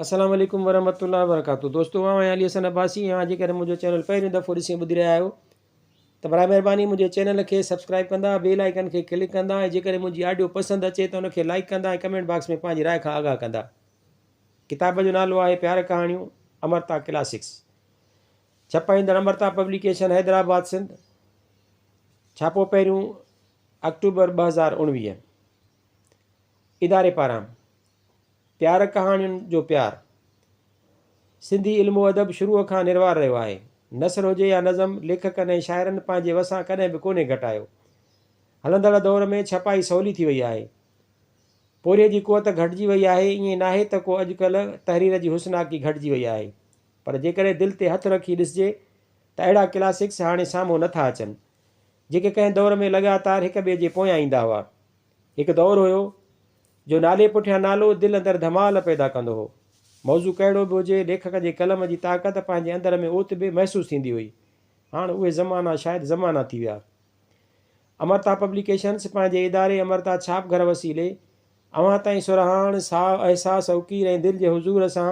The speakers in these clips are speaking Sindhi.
السلام عليڪم ورحمة الله وبرڪاته دوستو آئون آهيان علي حسن عباسي اوهان جيڪڏهن منهنجو چينل پهريون دفعو ڏسي ۽ ٻڌي رهيا آهيو ته برائي مهرباني منهنجي چينل کي سبسڪرائب ڪندا بيل آئيڪن کي ڪلڪ ڪندا ۽ جيڪڏهن منهنجي آڊيو پسند اچي ته ان کي لائيڪ ڪندا ۽ ڪمينٽ باڪس ۾ پنهنجي راء کان آگاهه ڪندا ڪتاب جو نالو آهي پيار ڪهاڻيون امرتا ڪلاسڪس ڇپائيندڙ امرتا پبليڪيشن حيدرآباد سنڌ ڇاپو پهريون آڪٽوبر ٻه هزار اڻويهه اداري پاران پيار ڪهاڻين جو پيار سنڌي علم و ادب شروع کان نروار رهيو آهي. نثر هجي يا نظم، ليکڪن ۽ شاعرن پنهنجي وسان ڪڏهن به ڪونهي گهٽايو. هلندڙ دور ۾ ڇپائي سولي ٿي وئي آهي. پورهيي جي قوت گهٽجي وئي آهي. ائين ناهي ته ڪو اڄڪلهه تحرير جي حسناڪي گهٽجي وئي آهي. پر جيڪڏهن دل تي هٿ رکي ڏسجي ته اهڙا ڪلاسڪس هاڻي سامهون نه ٿا اچن. جيڪي ڪنهن دور ۾ لڳاتار هڪ ٻئي جي پويان ايندا هئا. هڪ دور هيو جو نالي پٺيان نالو دل اندر ڌمال پيدا ڪندو هو. موضوع ڪهڙو به هجي، ليکڪ جي قلم جي طاقت پنهنجي اندر ۾ اوت به محسوس ٿيندي هئي. هاڻ اهي زمانا شايد زمانا ٿي ويا. امرتا پبليڪيشنز پنهنجي اداري امرتا ڇاپ گهر وسيلي اوهان تائين سرهاڻ، ساهه، احساس، اوڪير ۽ دل جي حضور سان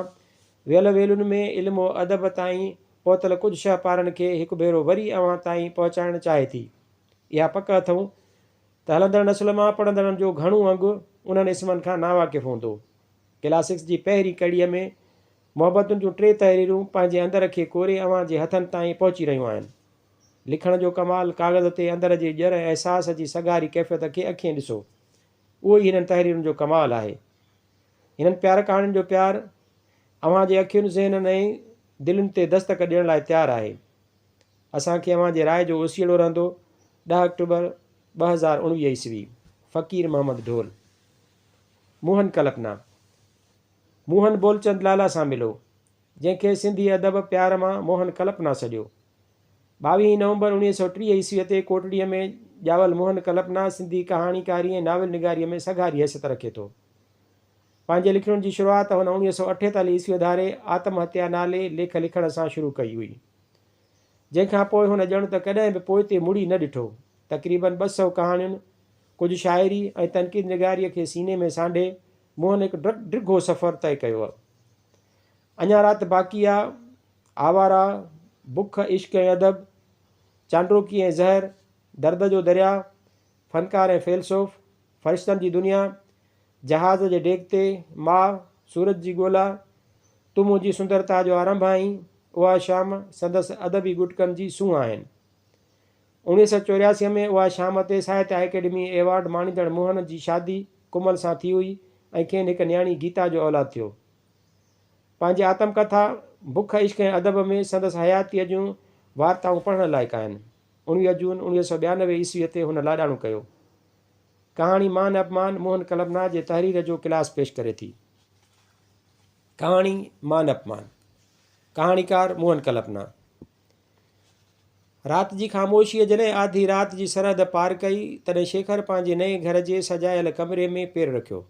ويل ويلن ۾ علم و ادب تائين پهتل ڪجهه شهپارن کي هڪ ڀيرو وري اوهان تائين پهچائڻ چاهي ٿي. اها پڪ اٿئون ته هلندڙ نسل مان پڙهندڙن جو گهڻو انگ انهن اسمن کان ناواقف هوندو. ڪلاسڪس جي پهرين ڪڙي ۾ محبتن جون ٽي تحريرون پنهنجي اندر کي ڪوري اوهان جي هٿن تائين پهچي رهيون آهن. لکڻ جو ڪمال ڪاغذ تي اندر جي ڄر احساس جي سگهاري ڪيفيت کي اکين ڏسو. اهو ئي هنن تحريرن جو ڪمال آهي. هنن پيار ڪهاڻين جو پيار اوهان جي اکين، ذهنن ۽ دلين تي دستڪ ڏيڻ لاء تيار آهي. اسان کي اوهان جي راء جو اوسيئڙو رهندو ڏهه آڪٽوبر ٻه هزار اڻويهه عيسوي فقير محمد ڍول موهن ڪلپنا موهن بولچند لالا سان ملو جنهن کي سنڌي ادب پيار مان موهن ڪلپنا سڏيو ٻاويهين نومبر اڻويهه سؤ ٽيهه عيسوي تي ڪوٽڙيء ۾ ڄاول موهن ڪلپنا سنڌي ڪهاڻيڪاري ۽ ناول نگاريء ۾ سگهاري حيثيت رکي ٿو. پنهنجي لکڻين جي شروعات هن اوڻيهه سؤ اٺيتاليهه عيسويء ڌاري آتم هتيا نالي ليک لکڻ سان شروع ڪئي هئي، جنهن کان پوء هن ڄڻ ته ڪڏهن به پوئتي مڙي نه ڏٺو. تقريبن ٻه سؤ ڪهاڻين، ڪجهه شاعري ۽ تنقيد نگاريء کي سيني ۾ سانڍي، موهن هڪ ڊگهو سفر طئي ڪيو هو. اڃا رات باقي آ، آواره، بک، عشق ۽ ادب، چانڊوڪي ۽ زهر، درد جو درياء، فنڪار ۽ فيلسوف، فرشتن جي دنيا، جهاز جي ڊيڪ تي، ماء، سورج جي ڳولا، تون منهنجي سندرتا جو آرنڀ آهين، اها شام سندس ادبي ڳٽڪن جي سونهن آهن. اوڻيهه سؤ چورياسي ۾ اها شام تي ساهتيه اڪيڊمي ايوارڊ ماڻيندڙ موهن جي شادي ڪمل سان ٿي هئي ۽ کين هڪ نياڻي گيتا جو اولاد ٿيو. پنهنجي آتم ڪٿا بک، عشق ۽ ادب ۾ سندس حياتيء جون وارتائون پڙهڻ لائق آهن. اڻويهه جون اڻويهه سؤ ٻيانوي عيسويء تي هن لاڏاڻو ڪيو. ڪهاڻي مان اپمان موهن ڪلبنا جي تحرير جو ڪلاس پيش ڪري ٿي. ڪهاڻي مان اپمان. ڪهاڻيڪار موهن ڪلبنا. رات جي خاموشيء جڏهن آڌي رات جي سرحد پار ڪئي، تڏهن شيکر پنهنجي نئين گهر جي سجايل ڪمري ۾ پير رکيو.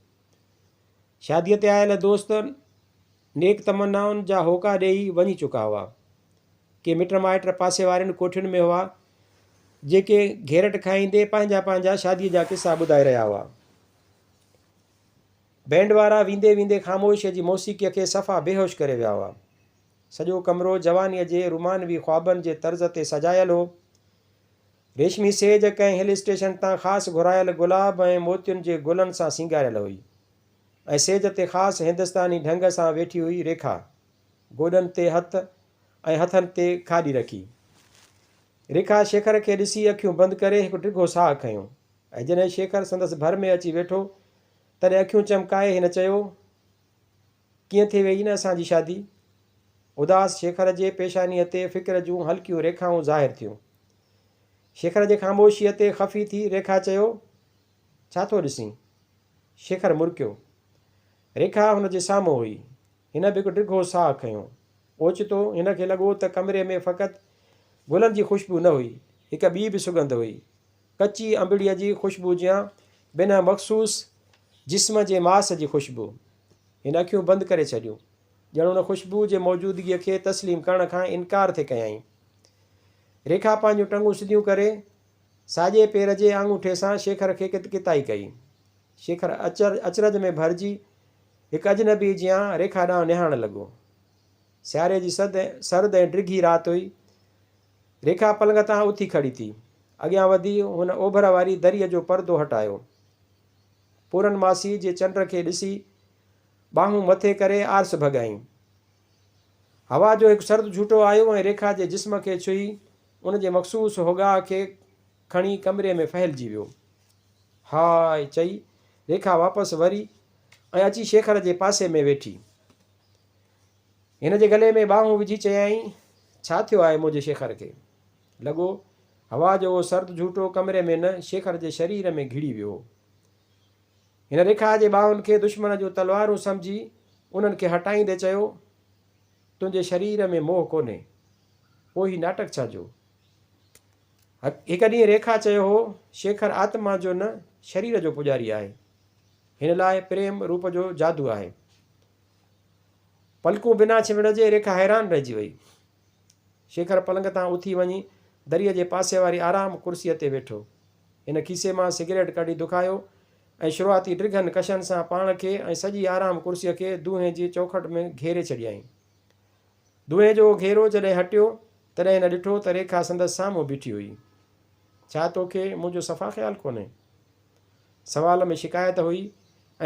شاديء تي آيل دوست نيڪ تمنائن جا هوڪا ڏيئي وڃي چڪا هئا. ڪي مٽ مائٽ پاسي وارين ڪوٺين ۾ هئا، جيڪي گهيرٽ کائيندي پنهنجا پنهنجا شاديء جا قصا ٻڌائي رهيا هئا. بينڊ وارا ويندي ويندي خاموشيء جي موسيقيء کي صفا بيهوش ڪري ويا هئا. سڄو ڪمرو جوانيء جي رومانوي خوابن جي طرز تي سجايل هو. ريشمي سيج ڪنهن هل اسٽيشن تان خاص گهرايل گلاب ۽ موتين جي گلن سان سينگاريل هئي ۽ سيج تي خاص هندستاني ڍنگ سان ويٺي هئي ريکا گوڏن تي هٿ ۽ هٿن تي کاڏي رکي ريکا شيکر کي ڏسي اکيون بند ڪري هڪ ڊگهو ساهه کنيو ۽ جڏهن شيکر سندس ڀر ۾ اچي ويٺو تڏهن اکيون چمڪائي هن چيو ڪيئن ٿي ويئي نه اسان جي شادي؟ اداس شيخر جي پيشانيء تي فڪر جون هلڪيون ريکائون ظاهر ٿيون. شيخر جي خاموشيء تي خفي ٿي ريکا چيو، ڇا ٿو ڏسين؟ شيخر مرڪيو. ريکا هن جي سامهون هئي. هن به هڪ ڊگهو ساهه کنيو. اوچتو هن کي لڳو ته ڪمري ۾ فقط گلن جي خوشبو نه هئي، هڪ ٻي به سڳنڌ هئي. ڪچي انبڙيء جي خوشبو جيان، بنهه مخصوص جسم جي ماس جي خوشبو. هن اکيون بند ڪري ڇڏيون، ڄڻ ان خوشبوء جي موجودگيء کي تسليم ڪرڻ کان انڪار ٿي ڪيائين. ريکا پنهنجون ٽنگون سڌيون ڪري، ساڄي پير جي آڱوٺي سان شيکر کي ڪت ڪتائي ڪئي. شيکر اچرج ۾ ڀرجي، هڪ اجنبيء جيان ريکا ڏانهن نهارڻ لڳو. سياري جي سرد ۽ ڊگهي رات هئي. ريکا پلنگ تان اٿي کڙي ٿي. اڳيان وڌي هن اوڀر واري دريء جو پردو هٽايو. پورن ماسيء جي چنڊ کي ڏسي ٻانهون مٿي ڪري آرس ڀڳائين. هوا جو هڪ سرد جهوٽو آيو ۽ ريکا جي جسم کي ڇهي ان جي مخصوص هوگاء کي کڻي ڪمري ۾ ڦهلجي ويو. هاء! چئي ريکا واپس وري ۽ اچي شيخر جي پاسي ۾ ويٺي. هن جي گلي ۾ ٻانهون وجهي چيائين، ڇا ٿيو آهي منهنجي شيخر کي؟ لڳو، هوا جو اهو سرد جهوٽو ڪمري ۾ نه شيخر جي شرير ۾ گهڙي ويو هو. هن ريکا جي ٻانهن کي دشمن جون تلوارون سمجهي انهن کي هٽائيندي چيو، تنهنجي شرير ۾ موهه ڪونهي، پوء هي ناٽڪ ڇا جو؟ هڪ ڏينهن ريکا چيو هو، شيخر آتما جو نه شرير جو پوڄاري آهي. هن لاء پريم روپ جو جادو آهي. پلڪون بنا ڇنڀڻ جي ريکا حيران رهجي وئي. شيکر پلنگ تان اٿي وڃي دريء جي پاسي واري آرام ڪرسيء تي ويٺو. هن کيسي مان سگريٽ ڪڍي دکايو ۽ شروعاتي ڊگهن ڪشن سان پاڻ کي ۽ سڄي آرام ڪرسيء کي دونهين جي چوکٽ ۾ گهيري ڇڏيائين. دونهين جو اهو گهيرو جڏهن هٽيو، تڏهن هن ڏٺو ته ريکا سندس سامهون بيٺي هئي. ڇا توکي منهنجو صفا خيال ڪونهي؟ سوال ۾ شڪايت هئي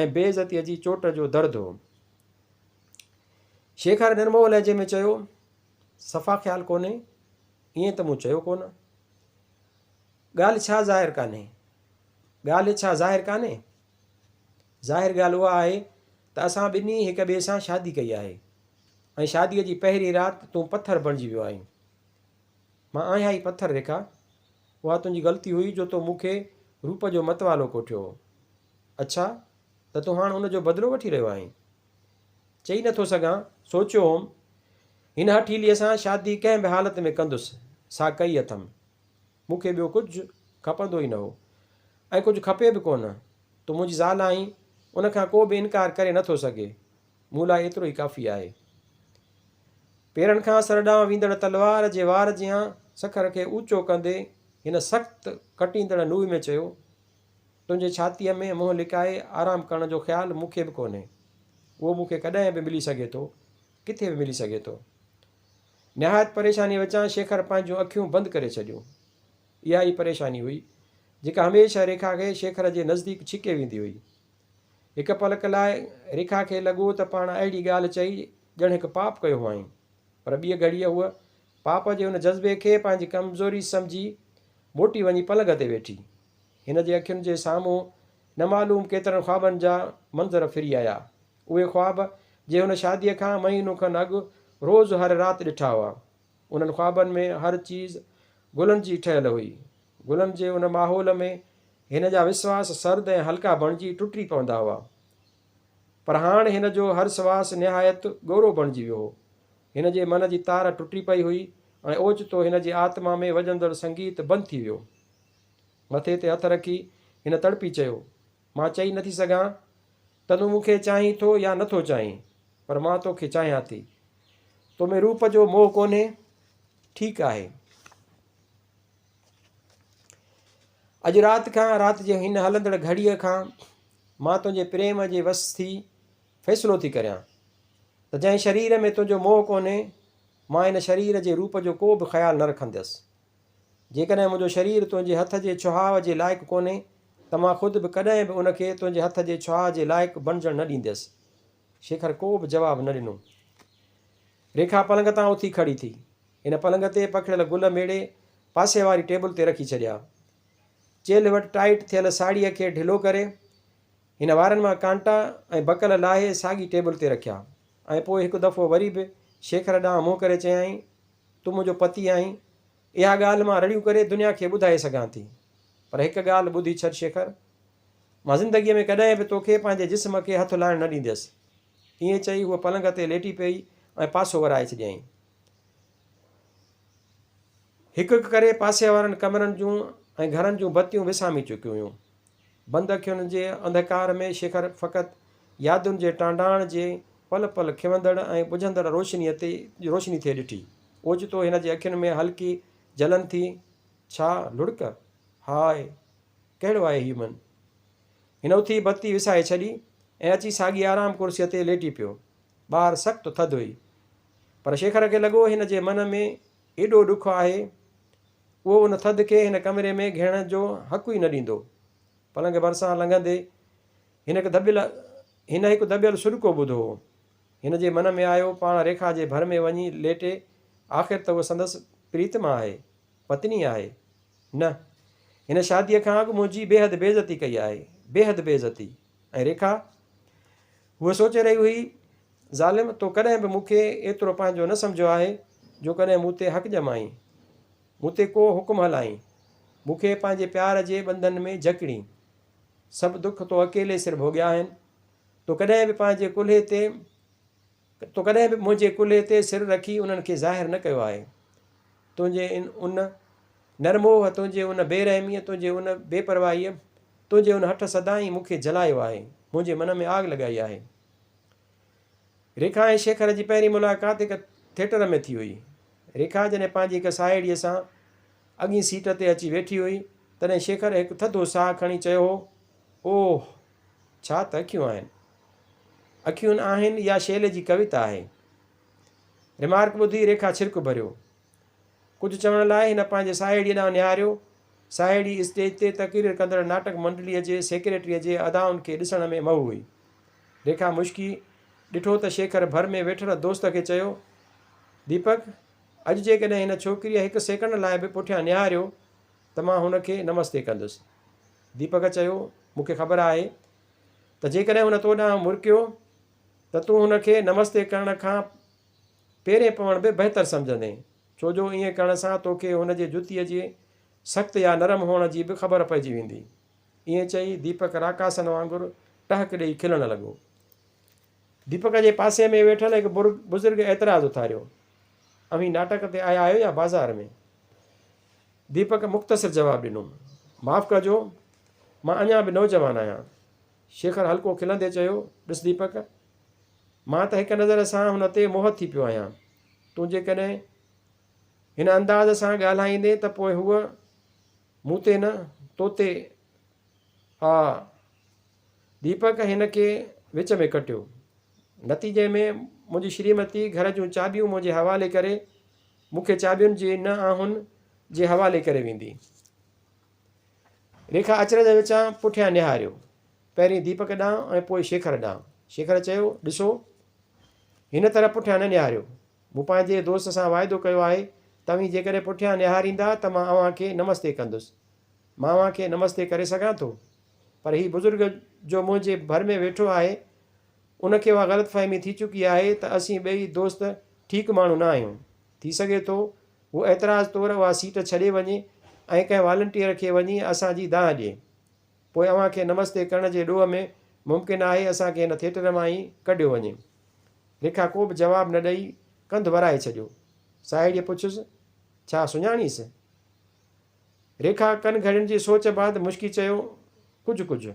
۽ بي عزتيء جي چوٽ جو درد هو. شيکر نرموء لهجي ۾ چيو، صفا خيال ڪونهي، ائين ته مون چيو ڪونه. ڳالهه ڇا ظاهر ڪانهي؟ ڳالهه ڇا ظاهر ڪانهي؟ ظاهر ڳالهه اها آهي ته اسان ٻنهي هڪ ٻئي سان شادي ڪئي آهي ۽ شاديء جي پهرين رات تون پٿر بڻجي ويو آهين. مان آهيان ئي پٿر ريکا. اها تنهنجي غلطي هئي جو تو مون کي روپ جو متوالو ڪوٺيو هو. اڇا ته تون هاڻ ان جو بدلو وٺي رهيو آهين. چئي نه ٿو سگهان، سوچيو هوم، هن هٺيليء سان شادي ڪنهن به حالت ۾ ڪندس، سا ڪئي اٿم. مون کي ٻيو ڪجهه کپندو ئي نه هو ۽ ڪجهه کپي به ڪونه. تون منهنجي زال آهين، ان کان ڪو به انڪار ڪري نه ٿو سگهي. مون لاء ايترو ئي ڪافي آهي. پيرن کان سر ڏانهن ويندڙ تلوار جي وار جيان سکر کي اوچو ڪندي هن سخت ڪٽيندڙ نوء ۾ چيو، تنهنجي ڇاتيء ۾ منهن لڪائي آرام ڪرڻ جو خيال مون کي به ڪونهي. اهو مون کي ڪڏهن به ملي سگهي ٿو، ڪٿي به ملي سگهي ٿو. نهايت پريشانيء وچان شيکر پنهنجون اکيون بند ڪري ڇڏيون. اها ئي پريشاني هئي، جيڪا هميشه ريکا کي شيکر جي نزديڪ ڇڪي ويندي هئي. هڪ پلڪ لاء ريکا کي لڳو ته پاڻ اهڙي ڳالهه چئي ڄڻ هڪ پاپ ڪيو هئائين. پر ٻيء گهڙيء هوء پاپ جي ان جذبي کي پنهنجي ڪمزوري سمجهي موٽي وڃي پلنگ تي ويٺي. هن جي اکين جي سامهون نه معلوم ڪيترن خوابن جا منظر ڦري آيا. اهي خواب جي هن شاديء کان مهينو کن اڳ روز هر رات ڏٺا هئا. انهن خوابن ۾ هر چيز گلن جي ٺهيل هئي. غلم جي ان ماحول ۾ هن جا وسواس سرد ۽ هلڪا بڻجي ٽٽي پوندا هئا. پر هاڻ هن جو هر سواس نهايت ڳورو بڻجي ويو هو. هن جي من جي تار ٽٽي پئي هئي ۽ اوچتو هن جي آتما ۾ وڄندڙ سنگيت بند ٿي ويو. مٿي تي هٿ رکي هن تڙپي چيو، مان چئي نٿي سگهان ته تون مون کي چاهين ٿو يا نٿو چاهين، پر مان تو کي چاهيان ٿي. تو ۾ روپ جو موهه ڪونهي؟ ٺيڪ آهي. اڄ رات کان، رات جي هن هلندڙ گهڙيء کان، مان تنهنجي پريم جي وس ٿي فيصلو ٿي ڪريان ته جنهن شرير ۾ تنهنجو موهه ڪونهي، مان ان شرير جي روپ جو ڪو به خيال نه رکنديس. جيڪڏهن منهنجو شرير تنهنجي هٿ جي ڇهاء جي لائق ڪونهي ته مان خود به ڪڏهن به ان کي تنهنجي هٿ جي ڇهاء جي لائق بڻجڻ نه ڏينديس. شيکر ڪو به جواب نه ڏنو. ريکا پلنگ تان اٿي کڙي ٿي. هن پلنگ تي پکڙيل گل ميڙي پاسي واري ٽيبل تي رکي ڇڏيا. چيلهه وٽ ٽائيٽ ٿيل ساڙهيء کي ڍلو ڪري، هن وارن مان ڪانٽا ۽ بڪل لاهي ساڳي ٽيبل تي رکيا ۽ پوء هڪ دفعو وري به شيکر ڏانهن منهن ڪري چيائين، تون منهنجو پتي آهين. اها ڳالهه مان رڙيون ڪري دنيا کي ٻڌائي سگهان ٿي، پر هڪ ڳالهه ٻڌي ڇڏ شيکر، مان زندگيء ۾ ڪڏهن به توکي پنهنجي جسم کي هٿ لائڻ نه ڏينديس. ائين چئي هوء پلنگ تي ليٽي پئي ۽ پاسو ورائي ڇڏيائين. هڪ هڪ ڪري پاسي وارن ڪمرن جون ۽ گهرن جون بتيون وسامي چڪيون هيون. بند اکين جي انڌڪار ۾ شيکر فقط يادن جي ٽانڊاڻ جي پل پل کيوندڙ ۽ ٻجهندڙ روشنيء تي روشني ٿئي ڏٺي. اوچتو هن جي اکين ۾ هلڪي جلن ٿي. ڇا لڙڪ؟ هاء! ڪهڙو آهي هي من؟ هن اٿي بتي وسائي ڇڏي ۽ اچي ساڳي آرام ڪرسيء تي ليٽي پيو. ٻاهر سخت ٿڌ هئي. پر شيخر کي لڳو هن جي من ۾ ايڏو ڏک آهي، اهو ان ٿڌ کي هن ڪمري ۾ گهڙڻ جو حق ئي نه ڏيندو. پلنگ ڀرسان لنگهندي هن هڪ دٻيل هن هڪ دٻيل سڏڪو ٻڌو هو. هن جي من ۾ آيو پاڻ ريکا جي ڀر ۾ وڃي ليٽي آخر ته هوء سندس پريتما آهي، پتني آهي. نه! هن شاديء کان اڳ منهنجي بيحد بيعزتي ڪئي آهي، بيحد بيعزتي. ۽ ريکا؟ هوء سوچي رهي هئي، ظالم، تو ڪڏهن به مون کي ايترو پنهنجو نه سمجهيو آهي، جو ڪڏهن مون تي حق ڄمائين، مون تي ڪو حڪم هلائين، مون کي پنهنجي پيار جي ٻنڌن ۾ جڪڙين. سڀ دک تو اڪيلي سر ڀوڳيا آهن. تو ڪڏهن به پنهنجي ڪلهي تي تو ڪڏهن به منهنجي ڪلهي تي سر رکي انهن کي ظاهر نه ڪيو آهي. تنهنجي ان نرموهه، تنهنجي ان بي رحميء، تنهنجي ان بي پرواهيء، تنهنجي ان هٺ سدائين مون کي جلايو آهي، منهنجي من ۾ آگ لڳائي آهي. ريکا ۽ شيکر جي پهرين ملاقات هڪ ٿيٽر ۾ ٿي هئي. ريکا جڏهن پنهنجي هڪ ساهيڙيء سان اڳئين سيٽ تي اچي ويٺي هئي، تڏهن شيکر هڪ ٿڌو ساهه کڻي چيو هو، اوهه! ڇا ته اکيون آهن. اکيون آهن اها شيلي جي ڪويتا آهي. رمارڪ ٻڌي ريکا ڇرڪ ڀريو. ڪجهه چوڻ لاء هن پنهنجي ساهيڙيء ڏانهن نهاريو. ساهيڙي اسٽيج تي تقرير ڪندڙ ناٽڪ منڊليء جي سيڪريٽريء جي ادائن کي ڏسڻ ۾ مئو هئي. ريکا مشڪي ڏٺو ته شيکر ڀر ۾ ويٺل دوست کي چيو، ديپڪ، اڄ جيڪڏهن هن ڇوڪريء هڪ سيڪنڊ لاء به پٺيان نهاريو ته مان هن کي نمستي ڪندس. ديپڪ چيو، مون کي خبر آهي ته جيڪڏهن هن تو ڏانهن مرڪيو، ته تون هن کي نمستي ڪرڻ کان پيرين پوڻ به بهتر سمجهندين، ڇو جو ائين ڪرڻ سان توکي هن جي جتيء جي سخت يا نرم هئڻ جي به خبر پئجي ويندي. ائين چئي ديپڪ راڪاسن وانگر ٽهڪ ڏيئي کلڻ لڳو. ديپڪ جي پاسي ۾ ويٺل هڪ بزرگ اعتراض اٿاريو، اوهين ناٽڪ تي آيا آهيو يا بازار ۾؟ ديپڪ مختصر جواب ڏنو، معاف ڪجو، مان اڃا به نوجوان آهيان، شيکر هلڪو کلندي چيو، ڏس ديپڪ! مان ته هڪ نظر سان هن تي موهت ٿي پيو آهيان. تون جيڪڏهن هن انداز سان ڳالهائيندين ته پوء هوء مون تي نه، تو تي آء ديپڪ هن کي وچ ۾ ڪٽيو. نتيجي ۾ منهنجي شريمتي گهر جون چاٻيون منهنجي حوالي ڪري مون کي چاٻين جي نه آهن جي حوالي ڪري ويندي. ريکا اچرج وچان پٺيان نهاريو. پهرين ديپڪ ڏانهن ۽ پوء شيکر ڏانهن. شيکر چيو، ڏسو! هن طرف پٺيان نه نهاريو. مون پنهنجي دوست سان واعدو ڪيو آهي ته اوهين جيڪڏهن پٺيان نهاريندا ته مان اوهان کي نمستي ڪندس. مان اوهان کي نمستي ڪري سگهان ٿو؟ پر هي بزرگ جو منهنجي ڀر ۾ ويٺو آهي، ان کي اها غلط فهمي ٿي چڪي آهي ته اسين ٻئي دوست ٺيڪ ماڻهو نه آهيون. ٿي سگهي ٿو هو اعتراض طور اها سيٽ ڇڏي وڃي ۽ ڪنهن والنٽيئر کي وڃي اسان جي دانهن ڏئي. پوء اوهان کي نمستي ڪرڻ جي ڏوهه ۾ ممڪن آهي اسان کي هن ٿيٽر مان ئي ڪڍيو وڃي. ريکا ڪوبه جواب نه ڏئي ڪنڌ ورائي ڇڏيو. ساهيڙيء پڇيس، ڇا سڃاڻيس؟ ريکا ڪن گهڙين جي سوچ بعد مشڪي چيو، ڪجهه ڪجهه.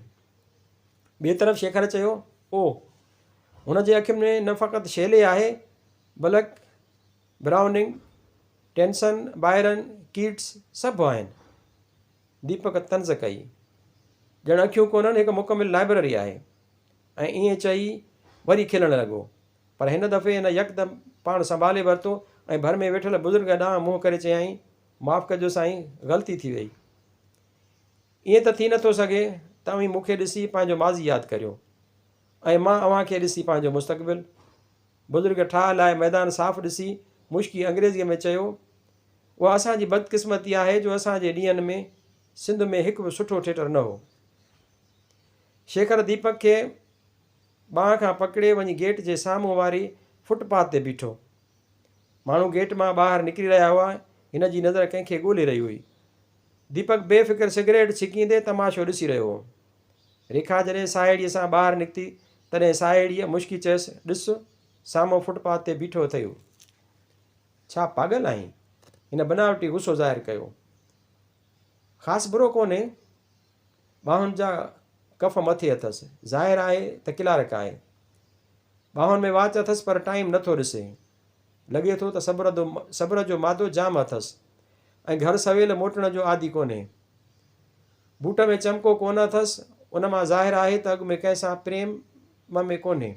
ٻئي طرف شيکر چيو، اوه! هن جي اکين ۾ نه فقط شيلي آهي بلڪ برائوننگ، ٽينسن، بائرن، ڪيٽس سڀ آهن. ديپڪ طنز ڪئي. ڄڻ اکيون ڪونهن هڪ مڪمل لائبرري آهي. ۽ ائين چئي وري کلڻ لڳو. پر هن دفعي هن يڪدم پاڻ سنڀالي ورتو ۽ ڀر ۾ ويٺل بزرگ ڏانهن منهن ڪري چيائين، معاف ڪجو سائين غلطي ٿي ويئي. ائين ته ٿي نٿو سگهي ته اوهين مون کي ڏسي پنهنجو ماضي ياد ڪريو. ۽ مان اوهان کي ڏسي پنهنجو مستقبل. بزرگ ٺاهه لاهي ميدان صاف ڏسي مشڪي انگريزيء ۾ چيو، اها اسان جي بدقسمتي آهي جو اسان جي ڏينهن ۾ سنڌ ۾ هڪ به سٺو ٿيٽر نه هو. شيکر ديپڪ کي ٻانهن کان پڪڙي وڃي گيٽ جي سامهون واري فٽ پاٿ تي بيٺو. ماڻهو گيٽ مان ٻاهر نڪري رهيا هئا، هن جي نظر ڪنهن کي ڳولي رهي هئي. ديپڪ بي فڪر سگريٽ ڇڪيندي تماشو ڏسي رهيو هو. ريکا جڏهن ساهيڙيء سان ٻاهر نڪتي، تڏهن ساهيڙيء مشڪي چيس، ڏس، سامهون فٽ پاٿ تي بيٺو اٿئي. ڇا پاڳل آهين؟ هن بناوٽي غصو ظاهر ڪيو. خاص برو ڪونهي. ٻانهن جا ڪف مٿي اٿس. ظاهر آهي ته ڪلارڪ آهي. ٻانهن ۾ واچ اٿس پر ٽائيم نٿو ڏسي. لڳي ٿو ته صبر دو صبر جو مادو جام اٿس ۽ گهر سويل موٽڻ جو عادي ڪونهي. بوٽ ۾ چمڪو ڪونه اٿس، ان مان ظاهر آهي ته اڳ ۾ ڪنهن سان پريم ۾ ڪونهي.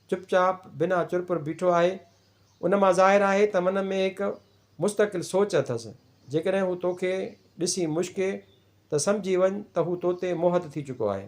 چپ چاپ بنا چرپر بيٺو آهي، ان مان ظاهر آهي ته من ۾ هڪ مستقل سوچ اٿس. جيڪڏهن هو توکي ڏسي مشڪي ته سمجهي وڃ ته هو توتي موهت ٿي چڪو آهي.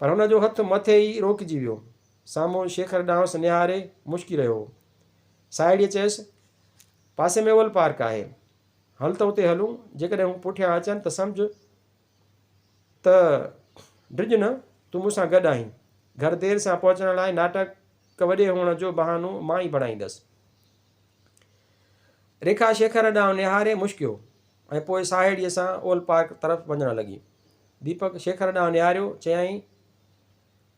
پر هن جو هٿ مٿي ئي روڪجي ويو. سامهون شيکر ڏانهس نهاري مشڪي رهيو هو. ساهيڙيء چيس، پاسي ۾ اول پارڪ آهي. هل ته اتي هلون. جيڪڏهن هو پٺيان اچن ته سمجهه ته ڊڄ نه، تون مون سان گڏ آهين. گهر دير سان پهچڻ لاء ناٽڪ وڏي هئڻ جو بهانو مان ئي بڻائيندس. ريکا شيکر ڏانهن نهاري مشڪيو. ۽ پوء ساهيڙيء سان اولڊ پارڪ طرف وڃڻ لڳي. ديپڪ شيکر ڏانهن نهاريو، چيائين،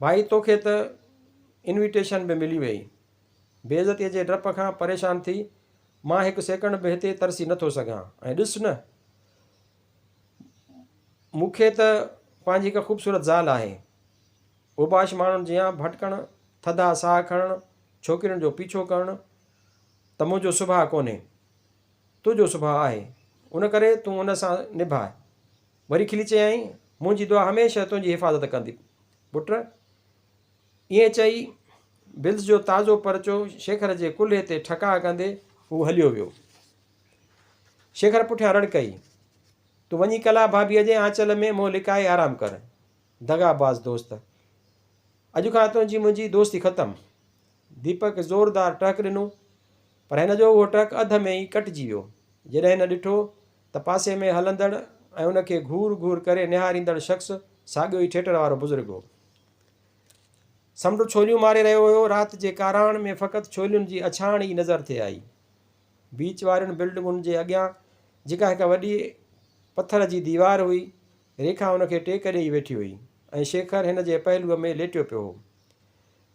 ڀائي توکي ته انويٽيشن به ملي ويئي. بي عزتيء جي ڊپ کان پريشان ٿي، مان هڪ سيڪنڊ به هتي ترسي نٿو سگهان. ۽ ڏس نه! مون کي ته پنهنجي هڪ خوبصورت زال آهي. اوباش ماڻهن جيان ڀٽڪڻ، ٿڌا ساهه کڻڻ، ڇوڪرين جو پيڇو ڪرڻ ته منهنجو سڀاء ڪونهي. تو جو سڀاء آهي، ان ڪري تون ان سان نڀاء. وري کلي چيائين، منهنجي دعا هميشه تنهنجي حفاظت ڪندي، پٽ. ائين چئي، بلس جو تازو پرچو شيکر جي ڪلهي تي ٺڪاء ڪندي، هو هليو ويو. شيکر پٺيان رڙ ڪئي، تون وڃي ڪلا ڀاڀيء جي آنچل ۾ منهن لڪائي آرام ڪر، دغاباز دوست. اڄ کان تنهنجي منهنجي دوستي ختم. ديپڪ زوردار ٽهڪ ڏنو پر هن جو اهو ٽهڪ اڌ ۾ ئي ڪٽجي ويو. جڏهن هن ڏٺو ته پاسي ۾ هلندڙ ۽ ان کي گهور گهور ڪري نهاريندڙ شخص ساڳيو ئي ٿيٽر وارو بزرگ هو. سمنڊ ڇوليون ماري رهيو هيو. رات جي ڪاراڻ ۾ فقط ڇولين جي اڇاڻ ئي نظر ٿي آئي. بيچ وارين بلڊنگن جي اڳيان جيڪا هڪ وڏي پٿر جي ديوار هئي، ريکا ان کي ٽيڪ ڏيئي ويٺي هئي ۽ شيکر هن جي پهلوء ۾ ليٽيو پيو هو.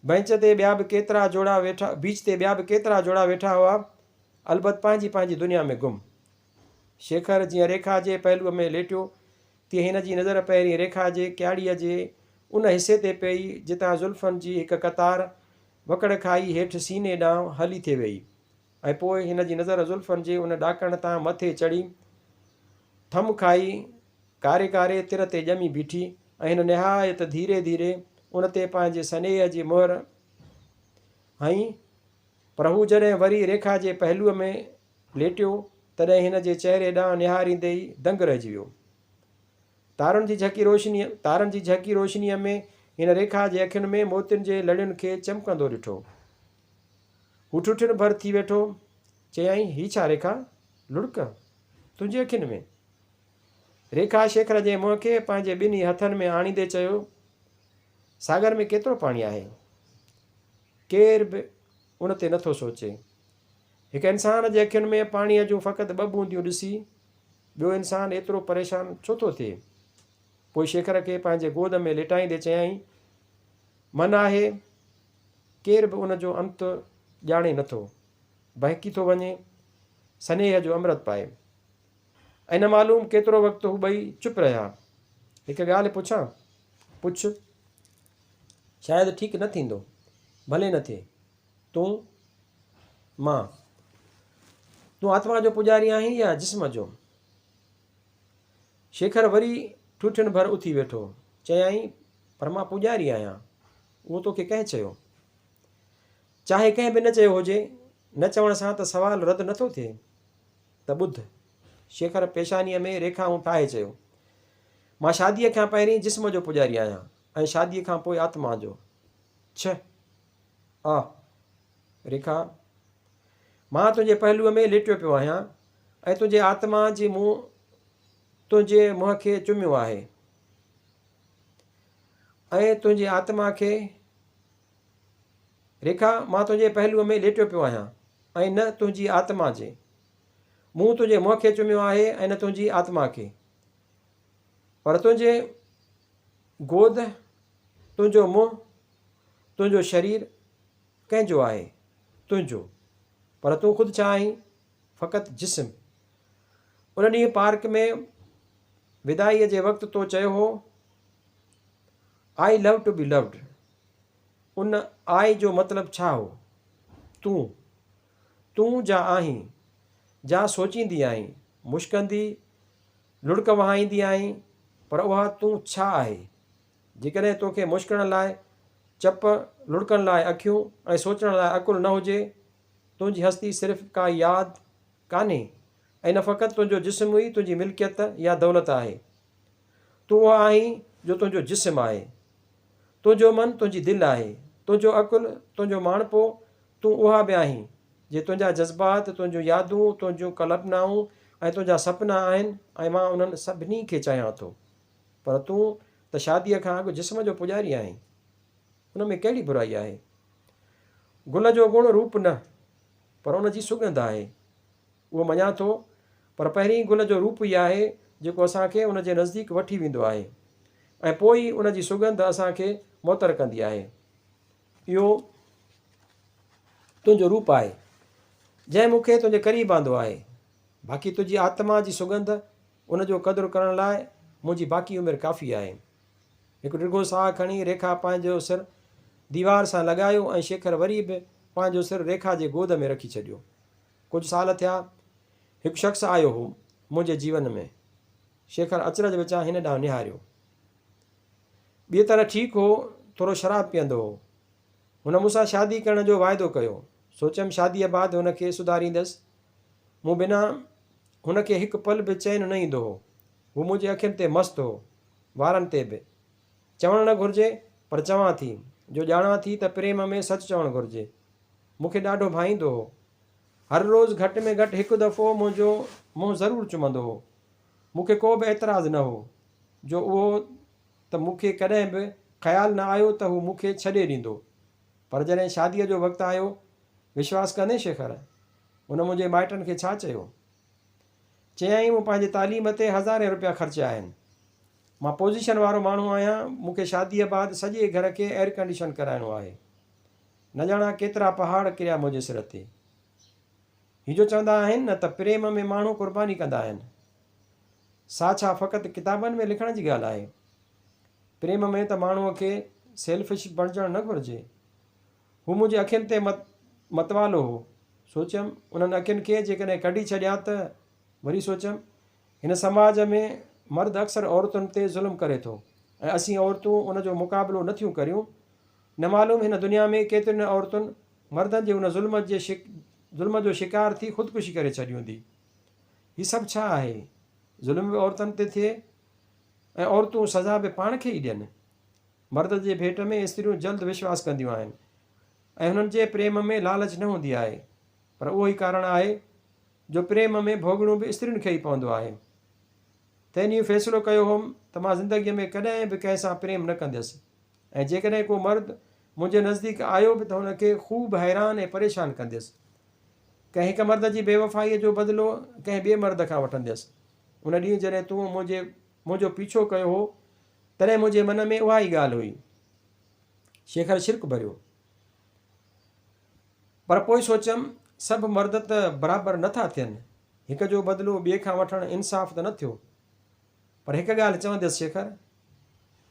بئنچ تي ٻيا به ڪيترا جوڙا ويٺا بيچ تي ٻيا به ڪيترا جوڙا ويٺا هئا، البت پنهنجي پنهنجي دنيا ۾ گم. شيکر جيئن ريکا جي پهلوء ۾ ليٽيو، تيئن هن جي نظر پهرين ريکا جي ڪياڙيء جي ان حصي تي پيئي، جتان زلفن جي هڪ قطار وڪڙ کائي هيٺ سيني ڏانهن هلي ٿي ويئي. ۽ پوء هن جي نظر زلفن جي ان ڏاڪڻ تان مٿي چڙهي، ٿم کائي، ڪاري ڪاري تر تي ڄمي بيٺي ۽ هن نهايت ڌيري ڌيري ان تي پنهنجي سنيهه جي مهر هنئي، پر هو جڏهن وري ريکا جي پهلوء ۾ ليٽيو، تڏهن هن جي چهري ڏانهن نهاريندي ئي دنگ رهجي ويو. تارن جي جهڪي روشنيء تارن جي جهڪي روشنيء ۾ هن ريکا جي اکين ۾ موتين جي لڙين کي چمڪندو ڏٺو. هو ٺٺڻ ڀر ٿي ويٺو. چيائين، هي ڇا ريکا! لڙڪ تنهنجي اکين ۾. ريکا شيخر جي منهن کي پنهنجي ٻنهي هٿن ۾ آڻيندي چيو، ساگر ۾ ڪيترو پاڻي آهي. ڪير به ان تي نٿو سوچي. هڪ انسان جي اکين ۾ پاڻيء جون فقط ٻه بونديون ڏسي ٻيو انسان ايترو پريشان ڇو ٿو ٿئي؟ پوء شيخر کي پنهنجي گود ۾ ليٽائيندي چيائين، من آهي. ڪير به ان جو انت ڄاڻي نه ٿو، بهڪي ٿو وڃي، سنيهه جو امرت پائي. ائين نه معلوم ڪيترو وقت هو ٻئي چپ رهيا. هڪ ڳالهه پڇان؟ پڇ. شايد ٺيڪ نه ٿيندو. ڀلي نه ٿئي. تون؟ مان؟ تون آتما جو پوڄاري آهين يا جسم جو؟ شيکر وري ٺوٺين ڀر اٿي ويٺو. چيائين، پر مان پوڄاري آهيان. اهو توکي ڪنهن چيو؟ چاهي ڪنهن به نه چيو هجي، نه چوڻ سان ته سوال رد نه ٿو ٿئي. ته ٻڌ. شيکر پيشانيء ۾ ريکائون ٺاهي چيو. مان شاديء کان پهرين جسم جو پوڄاري آهيان ۽ شاديء کان پوء آتما جو. ڇهه. آء. ريکا. مان تنهنجي پهلوء ۾ ليٽيو پيو آهيان ۽ تنهنجي آتما جي مون تنهنجي منهن کي چميو آهي. ۽ تنهنجي آتما کي ريکا، مان تنهنجي پهلوء ۾ ليٽيو پيو آهيان ۽ نه تنهنجي آتما جي. مون تنهنجي منهن کي چميو آهي ۽ نه تنهنجي آتما کي. پر تنهنجي گود، تنهنجو منهن، تنهنجو شرير ڪنهن جو آهي؟ تنهنجو. پر تون خود ڇا آهين؟ فقط جسم. ان ڏينهن پارڪ ۾ وداعيء جي وقت تو چيو هو I love to be loved ان آء جو مطلب ڇا هو؟ تون، تون جا آهين، جا سوچيندي آهين، مشڪندي، لڙڪ وهائيندي آهين، پر اها تون ڇا آهي؟ جيڪڏهن توکي مشڪڻ لاء چپ، لڙڪڻ لاء اکيون ۽ سوچڻ لاء عقل نه هجي، تنهنجي هستي صرف ڪا ياد ڪانهي ۽ نه فقط تنهنجو جسم ئي تنهنجي ملڪيت يا دولت آهي، تون اهو آهين جو تنهنجو جسم آهي. تنهنجو من تنهنجي دل آهي. تنهنجو عقل، تنهنجو ماڻهپو، تون اها به آهين. جي تنهنجا جذبات، تنهنجون يادون، تنهنجون ڪلپنائون ۽ تنهنجا سپنا آهن ۽ مان انهن سڀني کي چاهيان ٿو. پر تون ته شاديء کان اڳ جسم جو پوڄاري آهين. ان ۾ ڪهڙي برائي آهي. گل جو گڻ روپ نه پر ان جي سڳنڌ آهي. اهو مڃان ٿو، پر پهرين گل جو روپ ئي آهي، جيڪو اسان کي ان جي نزديڪ وٺي ويندو آهي ۽ پوء ئي ان جي سڳنڌ اسان کي معطر ڪندي آهي. اهو تنهنجو روپ آهي، جنهن مون کي تنهنجي قريب آندو آهي. باقي تنهنجي آتما جي سڳنڌ، ان جو قدر ڪرڻ لاء منهنجي باقي عمر ڪافي آهي. هڪ ڊگهو ساهه کڻي ريکا پنهنجو سر ديوار سان لڳايو ۽ شيکر وري به پنهنجو سر ريکا جي گود ۾ رکي ڇڏيو. ڪجهه سال ٿيا هڪ شخص آيو هو منهنجي جيون ۾. شيکر اچرج وچان هن ڏانهن نهاريو. ٻيء طرح ٺيڪ هو، ٿورو شراب پيئندو هو. هن مون سان شادي ڪرڻ جو واعدو ڪيو. سوچيم شاديء بعد هن کي سڌاريندس. مون بنا هن کي هڪ پل به چين نه ايندو هو. هو منهنجي اکين تي مست هو، وارن تي به. چوڻ نه گهرجي پر چوان ٿي جو ڄاڻان ٿي ته پريم ۾ سچ چوڻ گهرجي. مون کي ڏاڍو ڀائيندو هو. هر روز گهٽ ۾ گهٽ هڪ دفعو منهنجو منهن ضرور چمندو هو. مون کي ڪو به اعتراض نه هو جو اهو ته مون کي ڪڏهن به خيال نه آيو ته هو مون کي ڇڏي ڏيندو. پر جڏهن شاديء جو وقت آيو، وشواس ڪندين شيخر، هن منهنجي مائٽن کي ڇا چيو؟ چيائين مون پنهنجي تعليم تي هزارين روپيا خرچيا آهن. مان پوزيشن وارو ماڻهو آهيان، مون کي شاديء بعد سڄي گهر کي ايئر ڪنڊيشن ڪرائڻو آهي. نه ڄاڻان ڪيترا پهاڙ ڪريا منهنجي سر تي. هي جو چوندا آهن نه ته پريم ۾ ماڻهو قرباني ڪندا آهن. سا ڇا فقط ڪتابن ۾ لکڻ جي ڳالهه آهي. پريم ۾ ته ماڻهوء کي سيلفش بڻجڻ نه گهرجي. هو منهنجي اکين تي متوالو هو. سوچيم انهن اکين کي جيڪڏهن ڪڍي ڇڏيان ته؟ وري سوچيم هن سماج ۾ مرد اڪثر عورتن تي ظلم ڪري ٿو ۽ اسين عورتون ان جو مقابلو نه ٿيون ڪريون. نه معلوم هن دنيا ۾ ڪيترين عورتن مردن جي ان ظلم جي ظلم جو شڪار ٿي خودڪشي ڪري ڇڏي هوندي. هي سڀ ڇا آهي؟ ظلم به عورتن تي ٿئي ۽ عورتون سزا به پاڻ کي ئي ڏين. مرد جي ڀيٽ ۾ استريون جلد وشواس ڪنديون آهن ۽ هنن جي پريم ۾ لالچ نه هوندي آهي پر اهو ئي ڪارڻ آهي جو پريم ۾ ڀوڳڻو به استرين کي ئي پوندو آهي. تنهن ڏينهن فيصلو ڪيو هوم ته مان زندگيء ۾ ڪڏهن به ڪنهن سان پريم نه ڪنديس ۽ جيڪڏهن ڪو مرد منهنجي نزديڪ آيو به ته هن کي خوب حيران ۽ پريشان ڪنديس. ڪنهن هڪ مرد جي بيوفائيء جو بدلو ڪنهن ٻئي مرد کان وٺنديس. ان ڏينهن جڏهن تون منهنجي منهنجو پيڇو ڪيو هو، تڏهن منهنجي من ۾ اها ئي ڳالهه هئي. شيخر شرڪ ڀريو. پر پوء سوچيم، سڀ مرد ته برابر نه ٿا ٿين، هڪ جو بدلو ٻئي کان وٺڻ انصاف ته نه ٿيو. پر هڪ ڳالهه چونديس شيخر،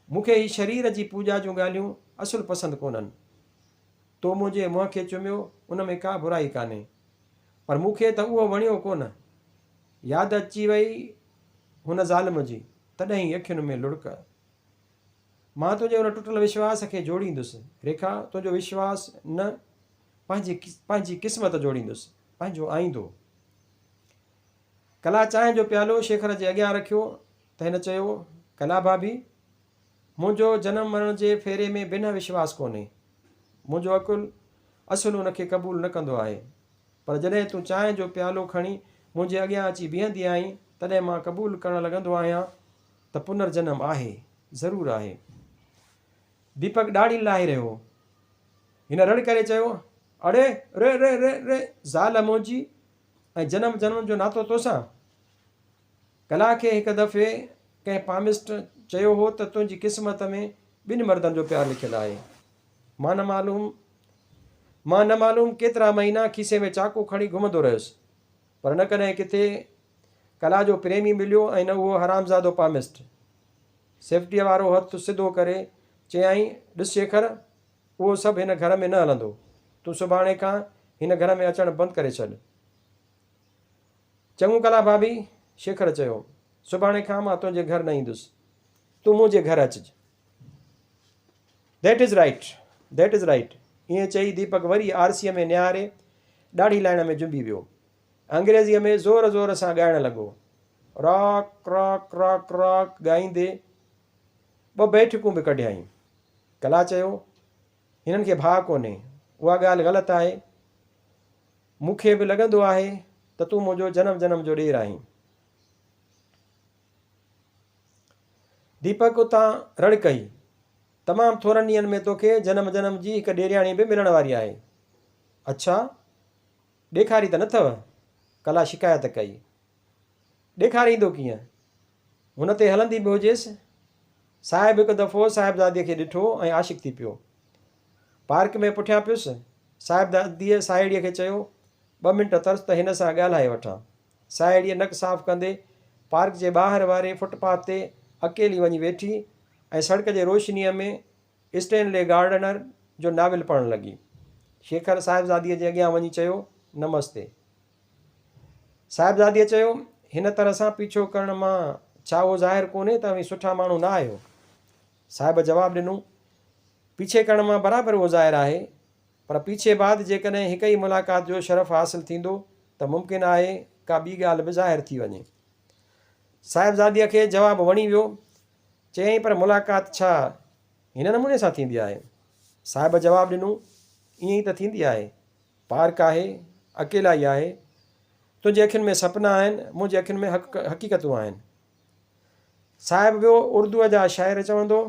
مون کي هي شرير جي پوڄا جون ڳالهيون اصل پسند ڪونهن. تو منهنجي منهن کي چميو ان ۾ ڪا برائي ڪانهي، پر مون کي ته اهو وڻيو ڪونه. ياد اچي وئي هن ظالم جي، تڏهن ئي اکين ۾ لڙڪ. مان تنهنجي ان ٽٽل وشواس کي جوڙيندس. ريکا، تنهنجو وشواس نه، پنهنجي پنهنجي قسمت جوڙيندس، پنهنجو آئيندو. ڪلا چانهه جو پيالو شيخر جي اڳيان رکيو ته هن چيو، ڪلا ڀاڀي، منهنجو جنم مرڻ جي ڦيري ۾ بنهه وشواس ڪونهي. منهنجو عقل اصل ان کي قبول نه ڪندو آهي. پر جڏهن تون چانهه جو پيالو کڻي منهنجي اڳيان اچي بيهندي آهين، تڏهن مان قبول ڪرڻ لڳندو آهيان ته پنر جنم آهي، ضرور آهي. ديپڪ ڏاڙهي لاهي رهيو هو. هن رڙ ڪري چيو، اڙي، ري ري ري ري، زال منهنجي ۽ جنم جنم جو ناتو توسان؟ ڪلا کي هڪ دفعي ڪنهن پامسٽ چيو هو ته تنهنجي قسمت ۾ ٻن مردن جو پيار لکيل آهي. مان نه معلوم مان نه معلوم ڪيترا مهينا کيسي ۾ چاقو کڻي گهمندو رهيس. پر نه ڪڏهن ڪٿي ڪلا جو پريمي مليو ۽ نه اهو حرامزادو پامسٽ. سيفٽيء وارو هٿ سڌو ڪري چيائين، ڏس شيخر، اهو سڀ هن گهر ۾ نه هلندو. تون سڀاڻي کان هن گهر ۾ اچڻ بند ڪري ڇڏ. چڱو ڪلا ڀاڀي، شيخر چيو، سڀاڻي کان مان تنهنجي گهر نه ايندس. تون منهنجي گهر اچج. That is right that is right ائين چئي ديپڪ وري آرسيء ۾ نهاري ڏاڙهي لائڻ ۾ جنبي ويو. انگريزيء ۾ زور زور سان ڳائڻ لڳو. راڪ راڪ راڪ راڪ ڳائيندي ٻه بيٺڪون به ڪڍيائين. ڪلا چيو، هنن کي ڀاء ڪونهي. اها ڳالهه غلط آهي. مون کي به لڳندو آهي ته تون منهنجو جنم جنم جو ڏير آهين. ديپڪ اتان رڙ ڪئي، تمام ٿورن ڏينهن ۾ توکي جنم جنم جي هڪ ڏيرياڻي به ملڻ واري آهي. اڇا! ڏيکاري ته نه اٿئو؟ ڪلا شڪايت ڪئي. ڏيکاريندو ڪيئن؟ هن تي هلندي به هجيس. صاحب هڪ دفعو صاحبزاديء کي ڏٺو ۽ عاشق ٿي پيو. پارڪ ۾ پٺيان پيس، صاحبزاديء ساهيڙيء کي چيو، ٻه منٽ ترس ته هن سان ڳالهائي وٺان. ساهيڙيء نڪ صاف ڪندي پارڪ جي ٻاهر واري فٽ پاٿ تي اڪيلي وڃي ويٺي ۽ سڙڪ جي روشنيء ۾ اسٽينلي گارڊنر جو ناول پڙهڻ لڳي. شيکر صاحبزاديء جي اڳيان وڃي چيو، نمستي. صاحبزاديء چيو، هن طرح سان پيڇو ڪرڻ مان ڇا اهو ظاهر ڪونهي ته اوهين سٺا ماڻهو نه آهيو؟ صاحب جواب ڏنو، پيڇي ڪرڻ مان برابر اهو ظاهر آهي پر پيڇي بعد جيڪڏهن هڪ ئي ملاقات جو شرف حاصل ٿيندو ته ممڪن آهي ڪا ٻي ڳالهه به ظاهر ٿي وڃي. صاحبزاديء کي جواب وڻي ويو. چيائين پر ملاقات ڇا هن نموني سان ٿيندي آهي؟ صاحب جواب ڏنو، ائين ئي ته ٿيندي آهي. پارڪ آهي، اڪيلائي آهي. تنهنجي اکين ۾ سپنا آهن، منهنجي اکين ۾ حقيقتون آهن. صاحب ويو اردوء جا شاعر چوندو،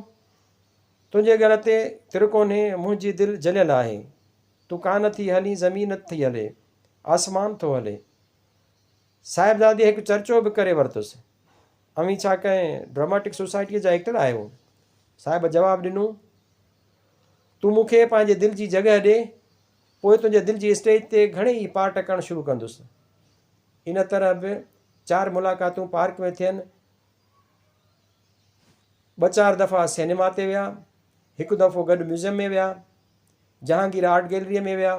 تنهنجي ڳڙ تي تر ڪونهي، منهنجي دل جليل آهي. تون ڪانه ٿي هلين، زمين نه ٿي هلي، آسمان ٿو هلي. صاحبزادي هڪ چرچو به ڪري ورتس، اوهين ڇا ڪنهن ڊراماٽڪ سوسائٽيء جا ايڪٽر آهيو؟ صاحب جواب ڏنو، تون مون کي پنهنجي دل جي جڳهه ڏي، پوء تنهنجي دل جي اسٽيج تي گهڻي ئي پارٽ ڪرڻ شروع ڪندس. ان طرح به چار ملاقاتون پارڪ ۾ ٿين. ٻه چار دفعا سينيما تي ويا. هڪ دفعو گڏ ميوزيم ۾ ويا. جهانگير آرٽ گيلريء ۾ ويا.